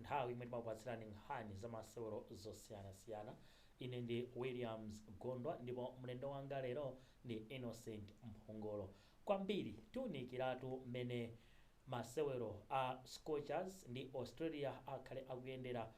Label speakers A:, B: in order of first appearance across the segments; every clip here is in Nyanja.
A: Nthawi imene timakupatsirani nkhani za masewero zosiyanasiyana. Ine ndi Williams Gondwa ndipo mlendo wanga lero ndi Innocent Mphongolo. Kwambiri tiunikiratu mmene masewero a Scorchers ndi Australia akhale akuyendera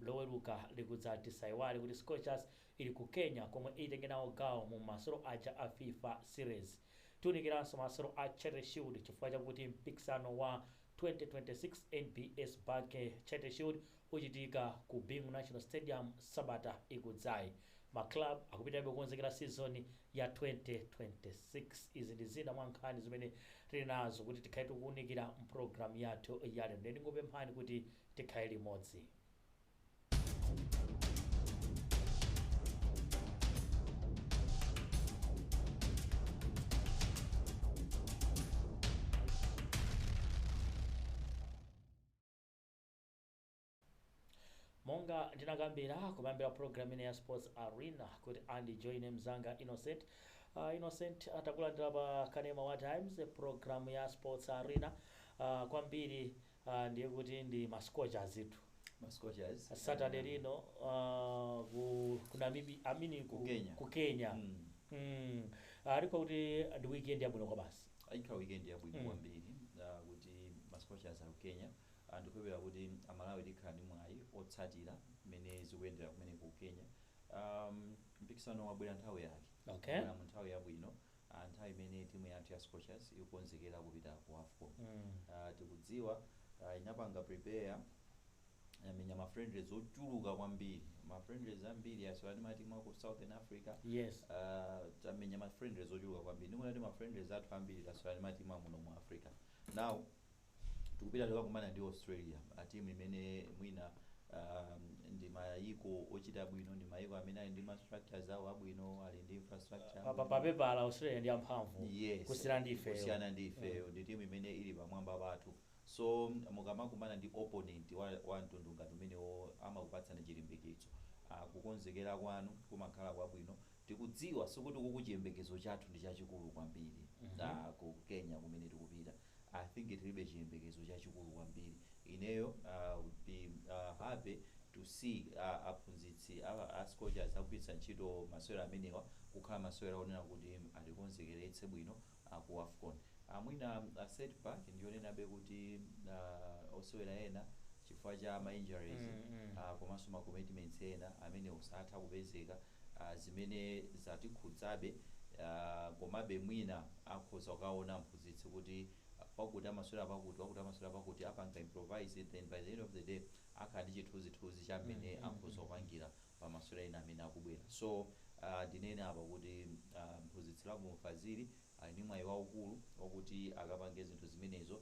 A: Loweruka likudzali. Tisaiwale kuti Scorchers ili ku Kenya komwe itenge nawo gawo mu masewero aja a fifa Series. Tiunikiranso masewero a Charity Shield chifukwa chakuti mpikisano wa 2026 NBS Bank Charity Shield uchitika ku Bingu National Stadium sabata ikudzayi. Ma club akupitirabe kukonzekera season ya 2026. Izi ndi zina mwa nkhani zimene tili nazo kuti tikhale tikuunikira mu program yathu ya lero. Ndiye ndingopemphani kuti tikhale limodzi. monga ndinakambira kumayambiriro program ino ya sports arena kuti andi join mzanga innocent uh, innocent takulandira pa kanema wa times program ya sports arena uh, kwambiri Aaa ndiye kuti ndi ma scorchersitu. Ma scorchers.
B: A Saturday aaa.
A: lino aaa ku ku Namib I mean Ku ku Kenya. ku Kenya Mm. mm aaa ndikuona kuti ndi weekend yabwino kwabasi. Ayi ikhala weekend yabwino
B: Mm. kwambiri aaa kuti ma scorchers ali ku Kenya aaa ndikukhulupirira kuti a Malawi tikhala ndi mwayi otsatira mmene zikuyendera kumeneko ku Kenya aaa mpikisano wabwera nthawi yake. Okay. Wabwera mu nthawi
A: yabwino
B: a nthawi imene timu yathu ya Scorchers ikukonzekera kupita ku afcon ah, tikudziwa ah, inapanga prepare yamenya ma friendlies ochuluka kwambiri ma friendlies ambiri yasewera ndi matimu aku southern africa Yes.
A: Ah, tamenya
B: ma friendlies ochuluka kwambiri ndikuona kuti ma friendlies athu ambiri tasewera ndi matimu amuno mu africa now Tikupita kukakumana ndi Australia, timu imene mwina ndi mayiko ochita bwino, ndi mayiko amene ali ndi ma structures awo abwino, ali ndi infrastructure Pa, pa, yabwino. pa pepala Australia
A: ndi amphamvu Yes, kusiyana ndi ifeyo.
B: kusiyana ndi ifeyo, ndi timu imene ili pamwamba pathu. So, mukamakumana ndi opponent wa, wa mtundu ngati umenewo, amakupatsani chilimbikitso. Ah, kukonzekera kwanu kumakhala kwabwino. Tikudziwa, sikuti kuku chiyembekezo chathu ndi chachikulu kwambiri, ah, ku Kenya kumene tikupita. I think tilibe chiyembekezo chachikulu kwambiri, ineyo I would be happy to see aphunzitsi a Scorchers akugwiritsa ntchito masewera amenewa kukhala masewera onena kuti atikonzekeretse bwino ku Afcon. Mwina set back ndiyonenabe kuti osewera ena chifukwa cha ma injuries komanso ma commitments ena amenewo satha kupezeka. zimene zatikhudzabe komabe mwina akhoza kukaona mphunzitsi kuti wakuti amasewera pakuti, wakuti amasewera pakuti apanga improvise then by the end of the day akhala ndi chithunzithunzi cha mmene akhoza kupangira pa masewera ena amene akubwera so ah, ndinene apa kuti ah, mphunzitsi Lovemore Fazili ali ndi mwayi waukulu wakuti akapange zinthu zimenezo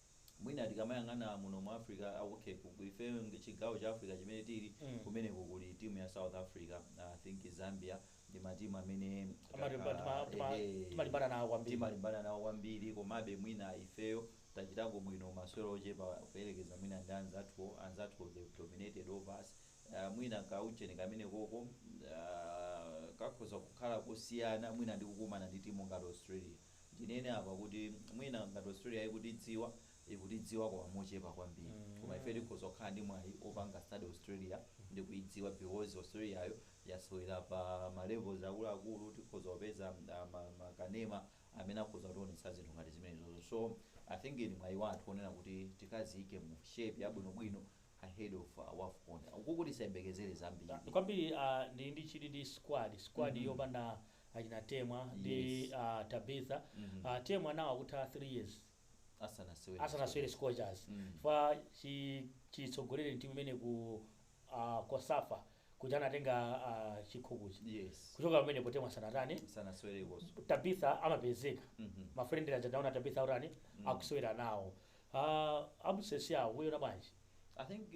B: mwina tikamayang'ana muno mu africa a- okay ku- ku- ife ng- chigawo cha africa chimene tili kumeneko kuli timu ya south africa i think zambia ndi matimu amene Amalimba- tima- tima- Ehe. timalimbana nawo kwambiri. timalimbana nawo kwambiri komabe mwina ifeyo tachitako bwino masewero ochepa kuyerekeza mwina ndi anzathuwo anzathuwo they dominated over us Uh, mwina kaucheni kamenekoko uh, kakhoza kukhala kusiyana mwina ndi kukumana ndi timu ngati australia ndinene apa kuti mwina ngati australia ikutidziwa ikutidziwa koma mochepa kwambiri koma ife tikhoza kukhala ndi mwayi opanga study australia ndi kuidziwa because australiayo yasewera pa ma levels akuluakulu tikhoza kupeza ah, ma- makanema amene akhoza kutionetsa zinthu ngati zimenezozo so i think ndi mwayi wathu onena kuti tikadziyike mu shape yabwinobwino ahead of uh, wafcon mukuti tisayembekezere zambiri kwambiri ah, ndi
A: ndi chili ndi squad squad yopanda achina Temwa ndi Yes. a Tabitha. Mhm. A Temwa nawo akutha 3 years Asanasewere. asanasewere Scorchers. Mm. Chifukwa chi chitsogolereni timu imene ku a Cosafa kuja anatenga a chikhochi. Yes. Kuchoka
B: pamenepo
A: Temwa sanatani Sanasewerekonso. Tabitha
B: amapezeka.
A: Mhm. Ma friendly aja ndaona Tabitha akutani akusewera nawo. Aaa absence yawo mukuiona bwanji.
B: I think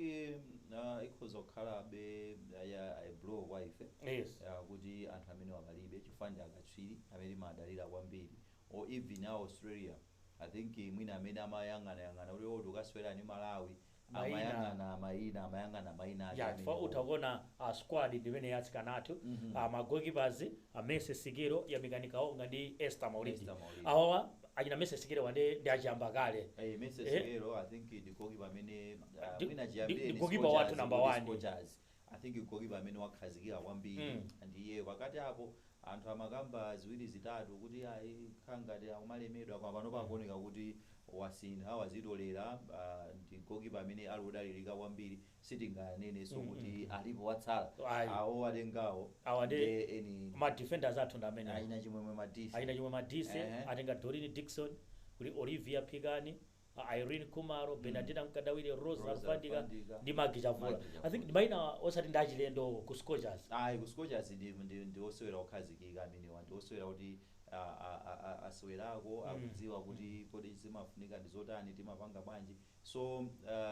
B: uh ikhoza kukhalabe a blow kwa ife Yes. uh, kuti
A: anthu amenewa
B: palibe chifukwa ndi akatswiri amene timadalira kwambiri or even a Australia I think mwina amene amayang'anayang'ana kuti oh tikukasewera ndi Malawi Mayina. amayang'ana mayina amayang'ana mayina ake ya chifukwa amenewo. utha
A: kuona a squad ndimene ya atsikana athu Mhm. a ma goalkeepers a Mercy Sikelo Yamikani Kaonga ndi Esther Maulidi Esther Maulidi. awawa achina Mercy Sikelo awa nde ndi achiyamba kale Eh, Mercy Eh?
B: Sikelo, I think ndi goalkeeper amene uh, Ndi- mwina ndi- chiyambire ndi ndi goalkeeper Scorchers, wathu number
A: ndi one. Scorchers. I think goalkeeper
B: amene wakhazikika kwambiri Mm. ndiye pakati apo anthu amakamba ziwiri zitatu kuti ayi akhala ngati akumalemedwa koma pano pakuoneka kuti wasintha wadzitolera ah, ndi goalkeeper amene ali odalirika kwambiri sitinganenenso kuti alipo watsala Ayi. awo atengawo Awa ndi nde
A: eni ma defenders athu ndi amene. achina Chimwemwe
B: Madise Achina Chimwemwe Madise Ehe.
A: atenga Doreen Dickson kuli Olivia Phikani a Irene Khumalo, Bernardina Mkandawire, Rose Rose Alufandika Alufandika, ndi Maggie Chavula. Maggie Chavula. I think ndi maina osati ndi achilendo ku Scorchers. ayi ku Scorchers
B: ndi, ndi, ndi osewera okhazikika amenewa ndi osewera kuti a- a- a- a- asewerako akudziwa kuti kodi zimafunika ndi zotani timapanga bwanji So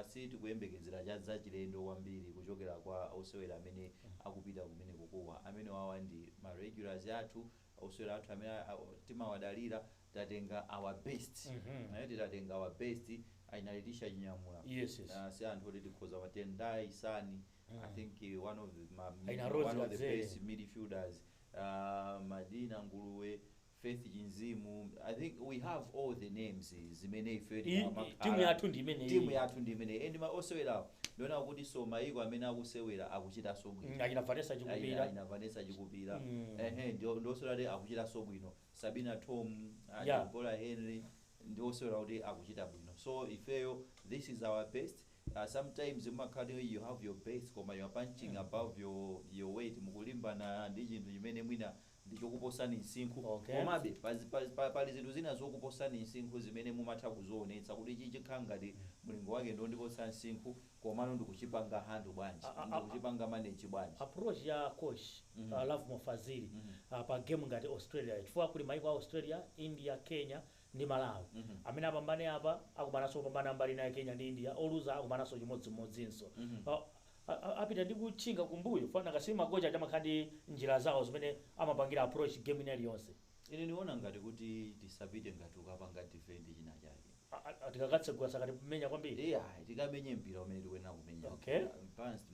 B: si tikuyembekezera cha zachilendo kwambiri kuchokera kwa osewera amene akupita kumeneko koma amenewawa ndi ma regulars athu osewera athu amene a- a- timawadalira tatenga our best Eh, titatenga our best aina Leticia Chinyamula Yes, yes. Ah, si anthu oti tikhoza ma Tendai Sani I think eh, one of the ma, Aina Rose one of the Kadzere. best midfielders uh, Madina Nguluwe Faith Chinzimu, I think we have all the names zimene ifeyo I- i- timu timakhala yathu
A: ndi imeneyi. timu yathu ndi imeneyi and ma osewerawo
B: ndiona kutinso mayiko amene akusewera akuchitanso bwino Mm, achina Vanessa chikupira
A: aina Vanessa
B: chikupira Mm. ehe ndi ndi osewera kuti akuchitanso bwino Sabina Thom ah, Yeah. Deborah Henry ndi osewera kuti akuchita bwino so ifeyo this is our best Uh, sometimes mumakhala kuti you have your best koma you are punching above your, your weight mukulimbana ndi chinthu chimene mwina ndi chokuposani msinkhu. Okay. Komabe, pa, pa, pa, pali zinthu zina zokuposani msinkhu zimene mumatha kuzionetsa kuti ichi chikhala ngati mlingo wake ndi wondiposa msinkhu komano ndikuchipanga handle bwanji, A- a- a- ndikuchipanga manage bwanji. approach ya coach
A: uh, Lovemore Fazili uh, pa game ngati Australia chifukwa kuli maiko a Australia, India, Kenya ndi Malawi. Amene apambane apa akumananso opambana a mbali ina ya Kenya ndi India, oluza akumananso chimodzimodzinso. Apita ndi kutchinga kumbuyo chifukwa nanga si makochi aja amakhala ndi njira zawo zimene amapangira approach game ina iliyonse. Ine ndikuona
B: ngati kuti tisapite ngati kukapanga defend china chake.
A: Tikakatsegula sakatimenya kwambiri? Iyayi, tikamenye mpira
B: umene tikuyenera kumenya Okay. uja. Balanced,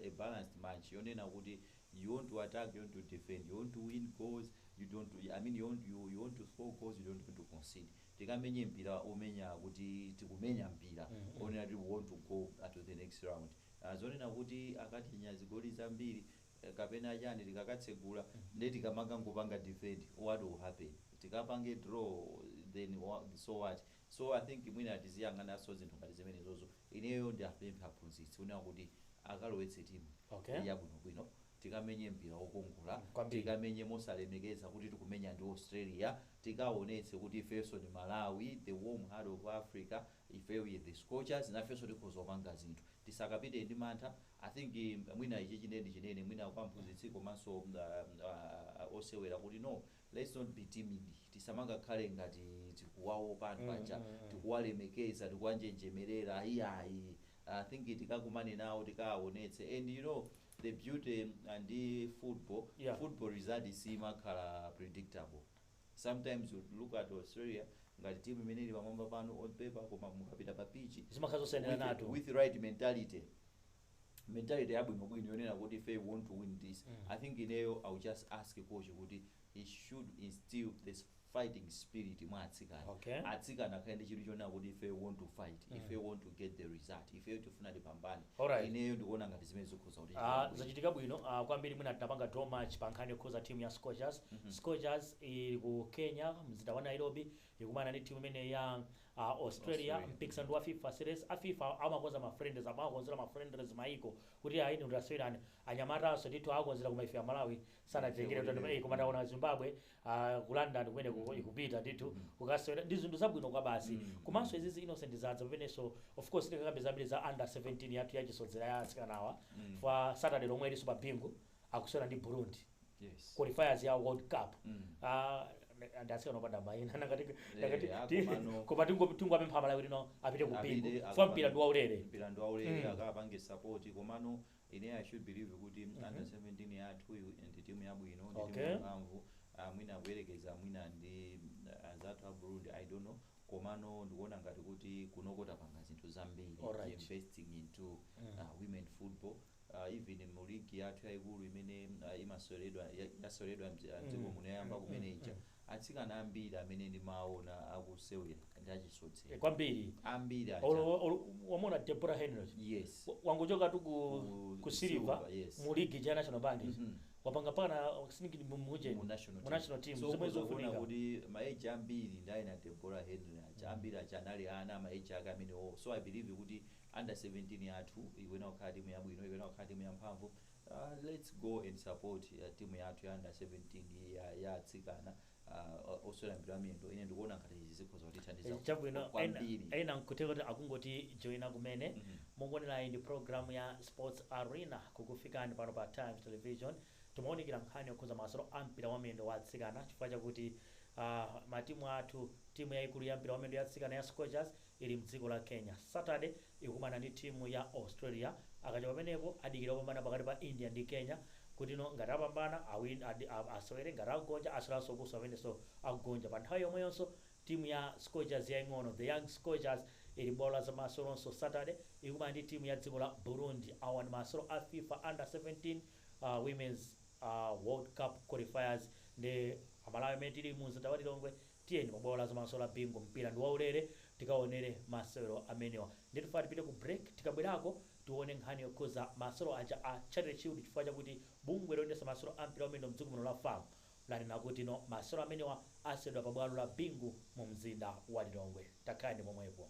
B: a balanced match yonena kuti you want to attack, you want to defend, you want to win goals, you don't, I mean you want, you, you want to score goals, you don't want to concede. Tikamenye mpira omenya kuti tikumenya mpira onena kuti we want to go uh, to the next round. Uh, zonena kuti akatinya zigoli zambiri eh, kapena chani tikakatsegula nde tikamanga ngopanga defend what will happen tikapange draw then wa- so what So I think mwina tiziyang'ananso zinthu ngati zimenezozo. Ineyo ndiapemphe aphunzitsi kunena kuti akalowetse timu Okay. yabwinobwino tikamenye mpira wokongola, Kwambiri. tikamenye mosalemekeza kuti tikumenya ndi Australia, tikaonetse kuti ifenso ndi Malawi, the warm heart of Africa, ifeyo we the scorchers, nafenso tikhoza kupanga zinthu. Tisakapite ndi mantha. I think mwina ichichi ndiye ndichinene mwina kwa mphunzitsi komanso ah, ah, osewera kuti no, Let's not be timid, tisamangakhale ngati tikuwaopa anthu aja, tikuwalemekeza, tikuwanjenjemerera iyayi, I think tikakumane nawo tikaawonetse and you know the beauty ndi football, Yeah. football result siimakhala predictable, sometimes you look at Australia ngati team imene ili pamwamba panu on paper koma mukapita pa pitch Zimakhala zosiyaniranatu. with, with right mentality mentality yabwinobwino yonena kuti ifeyo we want to win this i think ineyo i will just ask coach kuti he should instill this fighting spirit mwa atsikana Okay. atsikana akhale ndi chidwi chonena kuti ifeyo want to fight ifeyo want to get the result ifeyo tifuna tipambane Alright. ineyo ndikuona ngati zimene zikhoza kuti Ah, zachitika bwino ah,
A: kwambiri mwina tinapanga draw match pa nkhani yokhuza timu ya scorchers scorchers ili ku kenya mzinda wa nairobi ikumana ndi team imeneyi ya Australia Australia. mpikisando wa fifa series a fifa amakonza ma friendlies amakonzera ma friendlies maiko kuti ayi inu tasewerani anyamatanso ndithu awakonzera koma ife amalawi sanatitengere Dziko lili. koma taona azimbabwe ah, ku london kumeneko ikupita ndithu kukasewera ndi zinthu zabwino kwabasi komanso izizi innocent zadza pamenenso of course tikakambe zambiri za under 17 yathu yachisodzera ya asikanawa fa saturday lomwe ilinso pa bingu akusewera ndi Burundi yes qualifiers ya world cup Mm. Ah, ndi atsikana opanda maina ngati ngati Eh, ti- akomano.
B: koma tingo- tingowapempha
A: malawi lino apite ku Apite, bingu akapanga- fwa mpira ndi waulere mpira ndi waulere Mm.
B: akapange support komano ine i should believe kuti Mhm. under 17 yathuyu ndi timu yabwino ndi timu Okay. yamphamvu Ah, mwina kuyerekeza mwina ndi ah, anzathu a Burundi I don't know komano ndikuona ngati kuti kunoko tapanga zinthu zambiri Alright. investing into Mm. ah, women football even mu league yathu yaikulu imene ah, imaseweredwa ya- yaseweredwa mdzi- ah, mdziko muno yayamba kumene ija atsikana ambiri amene ndimaona akusewera ndi achisodzera kwambiri ambiri
A: aja. Olo-
B: olo- wamona
A: deborah henry yes Wa-
B: wangochoka tu
A: ku, Ku- ku silver Silver, yes. mu ligi
B: ja national
A: bank Mhm. wapanga pana sinigini mumuje mu national mu national team so zomwe zikuonetsa kuti
B: maeji ambiri ndi aina deborah henry aja ambiri aja anali ana maeji ake amenewo so i believe kuti Under 17 yathu ikuyenera kukhala timu yabwino, ikuyenera kukhala timu yamphamvu, lets go and support timu yathu ya under 17 iyi ya ya atsikana uh, osewera mpira wa miyendo. Ine ndikuona ngati izi zikhoza kutithandiza kwa- chabwino ena,
A: kwambiri. ena nkutheka kuti akungoti joina kumene Mhm. mukuonerai ndi programu ya sports arena kukufikani pano pa times television timaunikira nkhani yokhuza masewero a mpira wa miyendo wa atsikana chifukwa chakuti uh, matimu athu timu yayikulu ya mpira wa miyendo ya atsikana ya scorchers ili mdziko la Kenya. Saturday ikukumana ndi timu ya Australia. Akachoka pamenepo adikira opambana pakati pa India ndi Kenya kuti no ngati apambana awin ad asewere ngati agonja aseweranso kuso pamenenso agonja. Pa nthawi yomweyonso timu ya Scorchers yaing'ono, The Young Scorchers, ili pa bwalo la zamaseweronso Saturday ikumana ndi timu ya dziko la Burundi. Awa ndi masewero a fifa Under 17 uh Women's uh World Cup qualifiers nde Amalawi amene tili mu mzinda wa Lilongwe Tiyeni pa bwalo la zamasewero la Bingu mpira ndi waulere tikaonere masewero amenewa. Ndiye tifuna tipite ku break tikabwerako tione nkhani yokhuza masewero aja a Charity Shield chifukwa chakuti bungwe loyendetsa masewero a mpira wa miyendo mdziko muno la fam lanena kuti no masewero amenewa aseweredwa pa bwalo la Bingu mu mzinda wa Lilongwe. Takhalani pomwepo.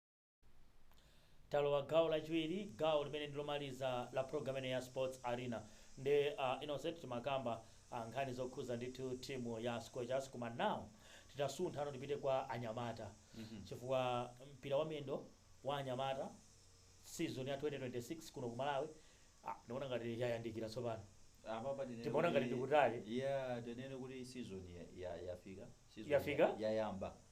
A: Talowa gawo lachiwiri, gawo limene ndi lomaliza la program imeneyi ya Sports Arena. Nde a Innocent timakamba nkhani zokhuza ndithu team ya Scorchers koma now titasunthano tipite kwa anyamata chifukwa mpira wa miyendo wa anyamata season ya 2026 kuno ku Malawi ah, ndikuona ngati yayandikira tsopano. Apapa tinene Timaona kuti- ngati ndi kutali. Yeah, tinene kuti
B: season
A: ya- ya- yafika. Season Yafika? ya- Yayamba.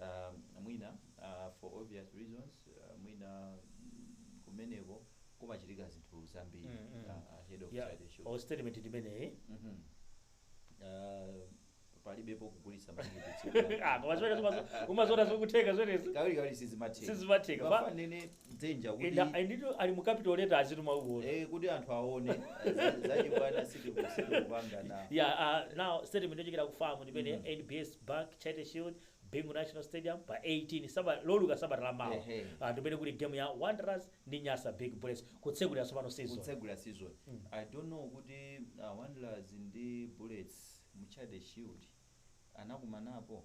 B: Aaa mwina aah for obvious reasons mwina kumeneko kumachitika zinthu zambiri Mm, mm. aah ahead of Yeah, Charity Shield. or statement ndi imeneyi.
A: Mhm.
B: Aah palibepo kugulitsa matikiti tsiku la- Ah, koma zimenezo umazo-
A: umaziona zikutheka zimenezi. Kawiri kawiri sizimatheka.
B: Sizimatheka.
A: Mafuna nene
B: dzinja kuti Enda- enditu ali mu
A: capital letter azituma uko eh, kuti anthu
B: aone Za- zachibwana sitiku- sitikupanga na ya ah, now
A: statement yochokera ku FAM ndimene Mm. nbs bank charity shield bingu national stadium pa 18 saba loweruka sabata la mawa Ehe. Ah, ndimene kuli game ya wanderers ndi nyasa big bullets kutsegulira tsopano season kutsegula
B: season Mm. i don't know kuti uh, wanderers ndi bullets mu charity shield anakumanapo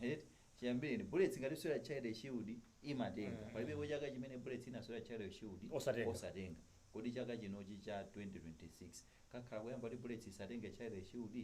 B: eti chiyambireni bullets ngati ikusewera charity shield imatenga mm. palibepo chaka chimene bullets inasewera charity shield osatenga, osatenga. kodi chaka chinochi cha 2026 kakhala koyamba kuti bullets isatenge charity shield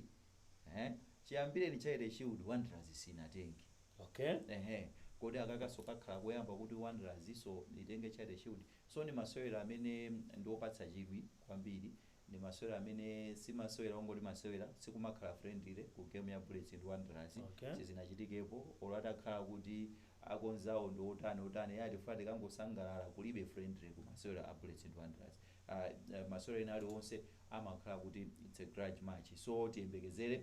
B: eh? chiyambireni charity shield wanderers sinatenge okay. ehe kodi akakanso kakhala koyamba kuti wanderersnso itenge charity shield so ndi masewero amene ndiopatsa chidwi kwambiri Ndi masewera amene si masewera ongoti masewera, sikumakhala friendly ku game ya Bullets ndi Wanderers, Okay. sizinachitikepo, olo atakhala kuti akonzawo ndi otani otani, eya tifuna tikangosangalala, kulibe friendly ku masewera a Bullets ndi Wanderers, ah, masewera ena aliwonse amakhala kuti it's a grudge match, so tiyembekezere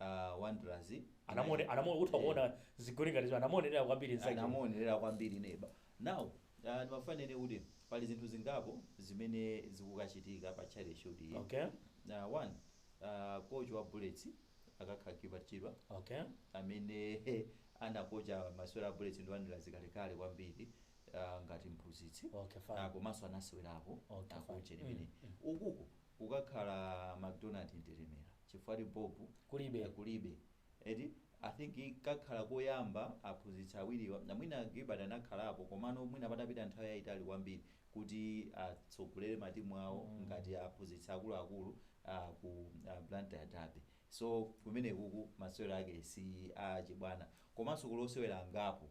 B: uh, Wanderers
A: anamone anamone utha kuona zigoli ngati zo anamuonerera kwambiri nzake anamuonerera
B: kwambiri neba now uh, ndimafuna nene kuti pali zinthu zingapo zimene zikukachitika pa Charity Shield iyi okay na one uh, coach wa bullets akakhala Gilbert Chirwa okay amene anakocha masewera a bullets ndi wanderers kalekale kwambiri uh, ngati mphunzitsi okay Ah, fine komanso anasewerapo Okay, fine. akoche limene ukuku kukakhala MacDonald Mtetemera chifukwa ti Bob kulibe kulibe eti I think kakhala koyamba aphunzitsi awiriwa mwina Gilbert anakhalapo komano mwina patapita nthawi yaitali kwambiri kuti atsogolere matimu awo ngati aphunzitsi akuluakulu ku Blantyre Derby so kumenekuku masewero ake si a chibwana komanso kuli osewera angapo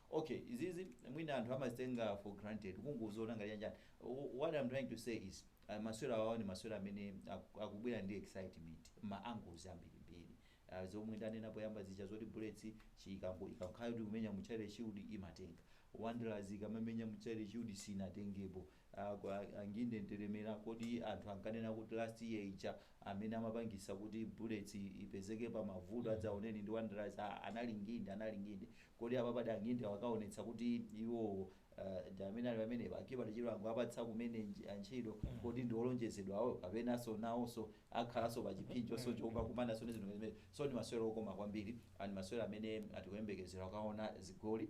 B: Ok izizi mwina anthu amazitenga for granted kungoziona ngati chani chani what I'm trying to say is masewera awawa ndi masewera amene aku, akubwera ndi excitement ma angles ambirimbiri uh, zomwe ndanena poyamba zija zoti bullets ikakhala kuti ikumenya mu Charity shield imatenga wanderers ikamamenya mu Charity shield sinatengepo Anginde ndiremera kodi anthu ankanena kuti last year ija amene amapangisa kuti bullets ipezeke pa mavuto adzaoneni ndi wanderers aa anali nginde anali nginde kodi apapadi angindewo akaonetsa kuti iwowo ndi amene ali pamene Akibale chirwa angowapatsa kumene ntchito kodi ndi olonjezedwa awo kapenaso nawoso akhalaso pa chiphinjoso chokakumanaso ndi zinthu ngati zimenezi so ndi masewera okoma kwambiri ndi masewera amene tikuyembekezera kukaona zigoli.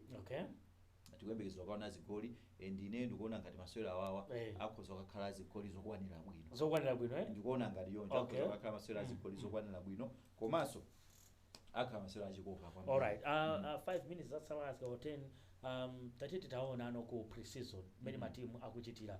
B: Tikuyembekeza kukaona zigoli and ineyo ndikuona ngati masewera awawa Eh. akhoza kukakhala azigoli zokwanira bwino. Zokwanira bwino eh? Ndikuona ngati choncho Okay. akhoza kukakhala masewera azigoli zokwanira bwino komanso akhala masewera achikoka kwambiri. Alright. Uh,
A: uh, 5 minutes zatsala azika 10. Um, tati titaonano ku pre-season mmene matimu akuchitira.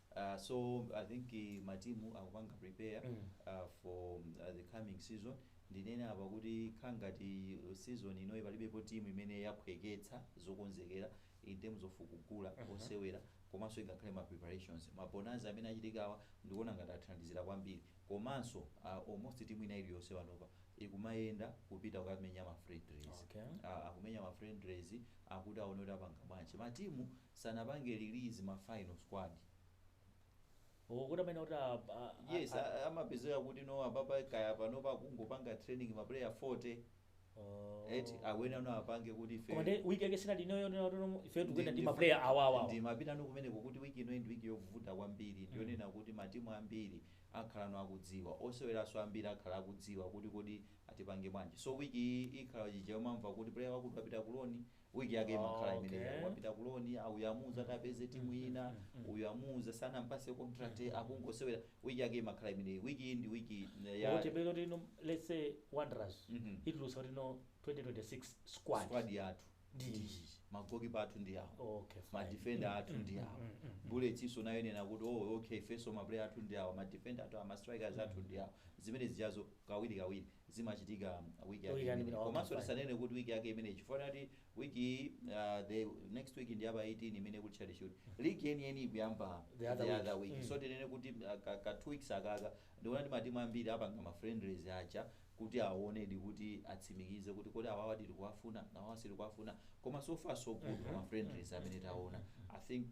B: So I think matimu akupanga prepare for the coming season, ndinene apa kuti kukhala ngati season inoyi palibepo team imene yaphweketsa zokonzekera in terms of kugula osewera komanso ingakhale ma preparations. Ma bonanza amene achitikawa ndikuona ngati athandizira kwambiri komanso almost team ina iliyonse panopa ikumayenda kupita kukamenya ma friendlies, akumenya ma friendlies a kuti aone kuti apanga bwanji. Matimu sanapange release ma final squad.
A: Oh kuti amene kuti a- a- a- Yes, a-
B: a- amapezeka kuti no apapa kaya panopa akungopanga training ma player 40 Oh. eti aone no apange kuti ife Koma ndi week yake sinali inoyo
A: nono ife tikuyenda ndi maplayer awa awa. ndimapita no kumeneko
B: kuti wiki ino ndi wiki yovuta kwambiri ndiyonena kuti matimu ambiri akhala no akudziwa oseweranso ambiri akhala akudziwa kuti kodi atipange bwanji so wiki iyi ikhala chija umamva kuti player wakuti wapita kuloni Week yake imakhala imene Okay. wapita ku loan, ah, uyu amuuza atapeze timu ina, uyu amuuza sanampase contract akungosewera. Week yake imakhala imene. Week iyi ndi week ya Kuti pelo tino
A: let's say Wanderers Mhm. itulusa kuti no 2026 squad. squad yathu. Ndi
B: Ndi iyi. magokipa athu ndi awo. Okay, fine.
A: madefender athu
B: ndi awa bullets iso nayo inene kuti oh okay ifenso maplayer athu ndi awa madefender athu awa mastrikers athu ndi awa zimene zijazo kawiri kawiri zimachitika week yake Toyirani imeneyi. wina Komanso wakumva. tisanene kuti week yake imeneyi chifukwa kuti week iyi uh, the next week ndi yapa 18 imene kuli Charity shield. League yeni yeni ikuyamba The other week. week. Mm. So tinene kuti uh, ka, ka two weeks akaka ndikuona ndi matimu ambiri apanga ma friendlies acha kuti aonedi kuti atsimikize kuti kodi awawa tili kuwafuna na awawa sitili kuwafuna koma so far so good Mhm. ma friendlies amene taona i think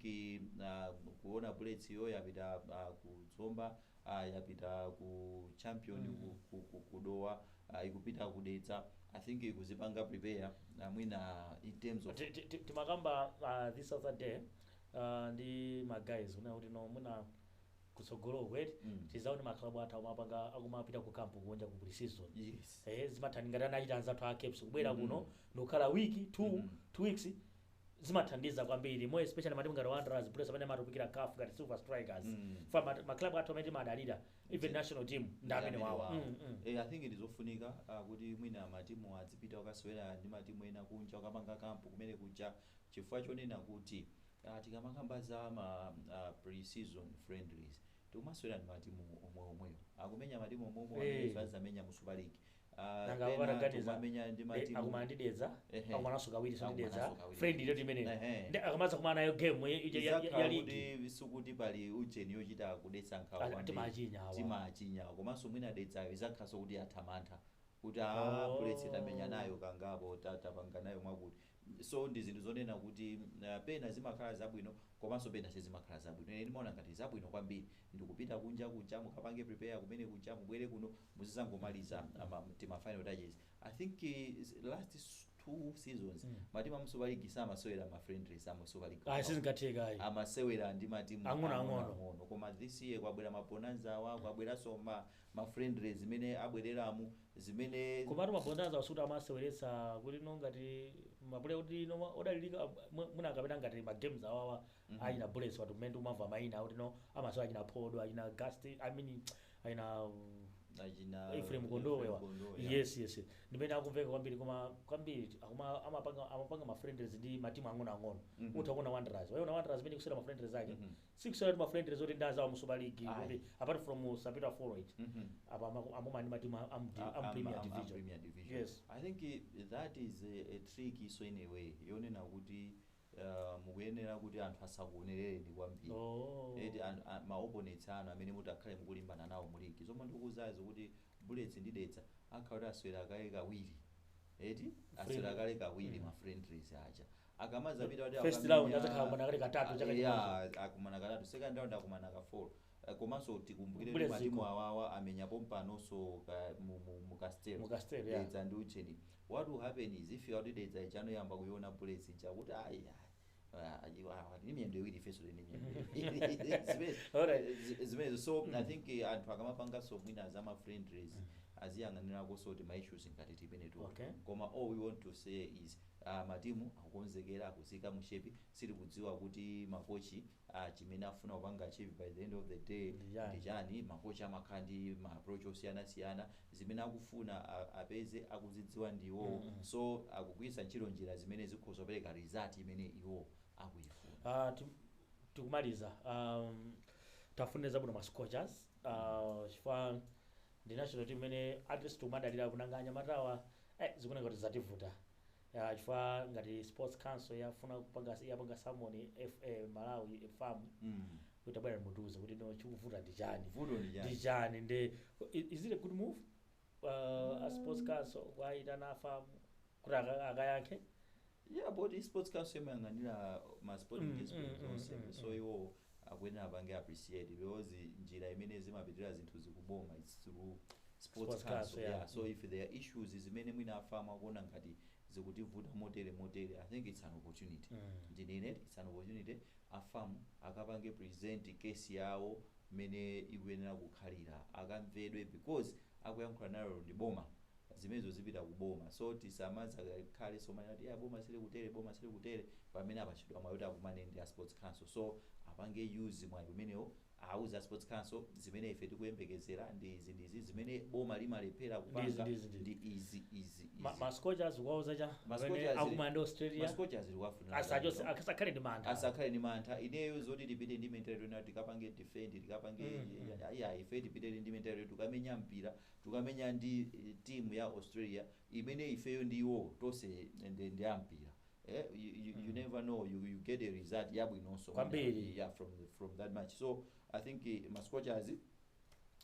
B: uh, kuona bullets iyo yapita uh, ku zomba ayi apita ku champion ku, ku, ku, ku dowa uh, ikupita ku dedza i think ikuzipanga prepare uh, mwina in terms of Ti- ti- ti- timakamba
A: uh, this other day uh, ndi maguys kunena kuti no mwina kutsogoloku eti Mm. tizaone maklabu athu akumapanga akumapita ku kampu kunja ku pre-season yes eh,
B: zimathandiza ngati anachita
A: anzathu a caps kubwera Mhm. kuno ndikukhala wiki two, Mhm. two weeks zimathandiza kwambiri more especially matimu ngati wanderers bullets amene amatipitira caf ngati silver strikers Mm. fa ma- ma club athu amene timadalira even Ndi- national team ndi amenewawo Mm, mm. Eh, i think
B: ndizofunika uh, kuti mwina matimu adzipita okasewera ndi matimu ena kunja okapanga kampu kumene kuja chifukwa chonena kuti uh, tikamakamba za ma uh, pre-season friendlies tikumasewera ndi matimu omwe omwewo akumenya matimu omwe omwe Eh. amene azamenya mu super league nanga pena
A: akanaganiza kumamenya ndi eh, matimu. akumana ndi dedza Ehe. akumananso kawiri so ndi dedza Akumananso kawiri. friendly yoti imeneyo Ehe. nde akamadzakumana nayo game ya- ya- ya- ya Izakhala ligi kuti sikuti pali
B: ujeni yochita kudetsa nkhawa Ati- kwambiri. timachinya awa. timachinya awa. komanso mwina dedzayo izakhalanso kuti athamantha kuti Oh. a bullets tamenya nayo kangapo ta- tapanga nayo mwakuti So ndi zinthu zonena kuti pena zimakhala zabwino komanso pena sizimakhala zabwino. Ine ndimaona ngati zabwino kwambiri ndi kupita kunja kuja mukapange prepare kumene kuja mubwere kuno muzidzangomaliza ma, tima final touches. I think last two seasons matimu amu Super League samasewera ma friendlies amu Super League Ayi okha. sizingatheka ayi.
A: amasewera ndi
B: matimu Ang'ono ang'ono. ang'onoang'ono koma
A: this year
B: kwabwera ma bonanza awa kwabweranso ma, ma friendlies zimene abwereramu zimene. Komatu ma
A: Bonanzawa sikuti amaseweretsa kuti no ngati ma player kuti no ma- odalirika ah, mwe- mwina akapita ngati ma games awawa achina Bullets watu mmene tikumamva maina kuti no amasewera achina Phodo achina Gast I mean achina um, achina Ephraim Kondowe wa Kondowe, yeah. yes yes ndimene akumveka kwambiri koma kwambiri akuma amapanga amapanga ma friendlies ndi matimu ang'ono ang'ono Mhm. utha kuona Wanderers waiona Wanderers mmene ikusewera ma friendlies ake Mhm. sikusewera tima friendlies oti ndi anzawo mu super league Ayi. kuti apart from sapitwa four Mhm. apa ama- amuma ndi matimu a- amu- A- amu am- premier am- am division Premier Division. yes I think eh, that
B: is a, a trick so in a way yonena kuti uh, mukuyenera kuti anthu asakuonerereni kwambiri Oh. eti an- a- ma opponents anu amene mutakhale mukulimbana nawo mu ligi zomwe ndikukuuzazo kuti bullets ndi dedza akhala kuti asewera kale kawiri eti asewera kale kawiri Mm. ma friendlies aja akamazapita kuti First akamenya- round adzakhala akumana
A: kale katatu chaka Yeah, chimodzi. akumana
B: katatu second round akumana ka four Eh, komanso tikumbukire Kubwera kuti matimu dziko. awawa amenya pompanonso ka- mu- mu- mu Castel. Mu Castel, yeah. dedza ndi ujeni what will happen is eventually dedza ijano iyamba kuiona bullets ija kuti ayi ni miyendo iwiri ifeso ndi Alright. zimenezo so i think eh, anthu akamapanganso mwina za ma friendlies aziyang'anirakonso tima issues ngati timeneto Okay. koma all we want to say is Aaa matimu akukonzekera akuziika mu shape sitili kudziwa kuti ma coach a chimene akufuna kupanga achieve by the end of the day Ndi chani? ndi chani ma coach amakhala ndi ma approach osiyanasiyana zimene akufuna a, apeze akuzidziwa ndi iwowo so akugwiritsa ntchito njira zimene zikhoza kupereka result imene iwo akuifuna. Ah, ti-
A: tikumaliza um, tafunire zabwino ma scorchers uh, chifukwa Ndi national team imene atleast tikumadalira coz nanga anyamatawa eh zikuoneka kuti zativuta ah, chifukwa ngati sports council yafuna kupanga yapanga summon FA Malawi FAM Mm. kuti tabwerani mutiuze kuti no chikuvuta ndi chani Vuto ndi chani? ndi chani ndi i- is it a good move uh, a sports council kuyitana FAM kuti aka- akayankhe yeah but
B: sports council imayang'anira ma sporting Mm, disciplines mm, mm, onse mm, so mm. iwo akuyenera apange appreciate because njira imene zimapitira zinthu zikuboma it's through sports Sports council council, yeah. yeah so if there are issues zimene mwina a FAM akuona ngati zikutivuta motere motere i think it's an opportunity Mm. ndinene it's an opportunity a FAM akapange present case yawo mmene ikuyenera kukhalira akamvedwe because akuyankhula nalo ndi boma zimenezo zipita ku boma so tisamadzakhale somanena kuti eya boma silikutere boma silikutere pamene apatsidwa mwayi oti akumane ndi a sports council so apange use mwayi umenewo awauze a sports council zimene ife tikuyembekezera ndi izi ndi izi zimene boma limalephera Ndi izi, kupanga ndi izi, ndi ndi izi izi Ma- izi ma
A: scorchers tiwauza chani Ma amene Scorchers- akumana ndi Australia Scorchers
B: tikuwafunira asachose zabwino. asakhale
A: ndi mantha asakhale ndi mantha ineyo zoti tipite ndi
B: mentality yonena tikapange defend tikapange Mm, mm. ayi ayi ife tipite ndi mentality tikukamenya mpira tikukamenya ndi team ya Australia imene ifeyo ndi iwowo tonse ndi ndi ampira eh you, you, you never know you, you get a result yabwinonso Kwambiri. yeah from from that match so i think eh, ma scorchers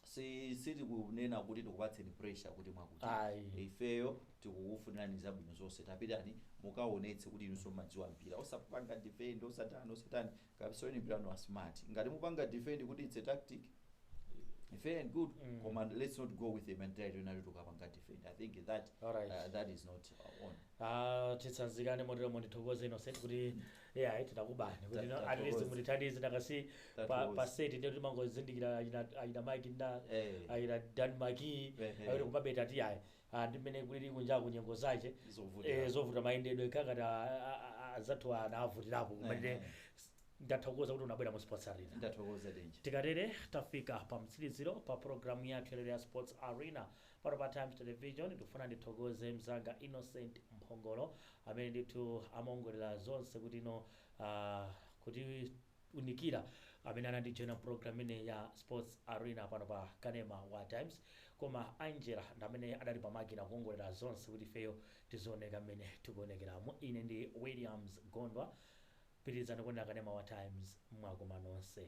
B: si sitili kunena kuti tikupatseni pressure kuti mwakuti Ayi. ifeyo tikukufunirani zabwino zonse tapitani mukaonetse kuti inunso mmadziwa mpira osapanga defend osatani osatani Kapondeni mpira wa smart. Ngati mupanga defend kuti it's a tactic fair and good Mm. koma let's not go with the mentality yoti tikukapanga defend. I think that Alright. uh, that is not uh, on. Ah, titsanzikane
A: motero ndithokoze innocent kuti yeah titakubani kuti Ta- no, at least tathokoza. mundithandize ndikasipa, Tathokoza. pa set ndiye timangozindikira ayi ena ayi ena mike nda Eh. ayi ena dan maki Ehe. ayi ena kumabeta ti ayi ah, ndi mmene kulili kunjaku nyengo zake Zovuta. eh, zovuta mayendedwe kaya anzathu anavutirapo kumene Eh. ndathokoza kuti unabwera mu sports arena ndathokoza denje tikatere
B: tafika
A: pa mtsiliziro pa programu yathu yalero ya sports arena pano pa times television ndikufuna ndithokoze mzanga innocent mphongolo amene ndithu amaongolera zonse kuti no ah, kuti kunikira amene anandijoina program imeneyi ya sports arena pano pa kanema wa times koma angela ndi amene adali pa makina kuongolera zonse kuti ifeyo tizioneka mmene tikuonekeramu ine ndi williams gondwa pitirizani kuonera kanema wa times mwakoma nonse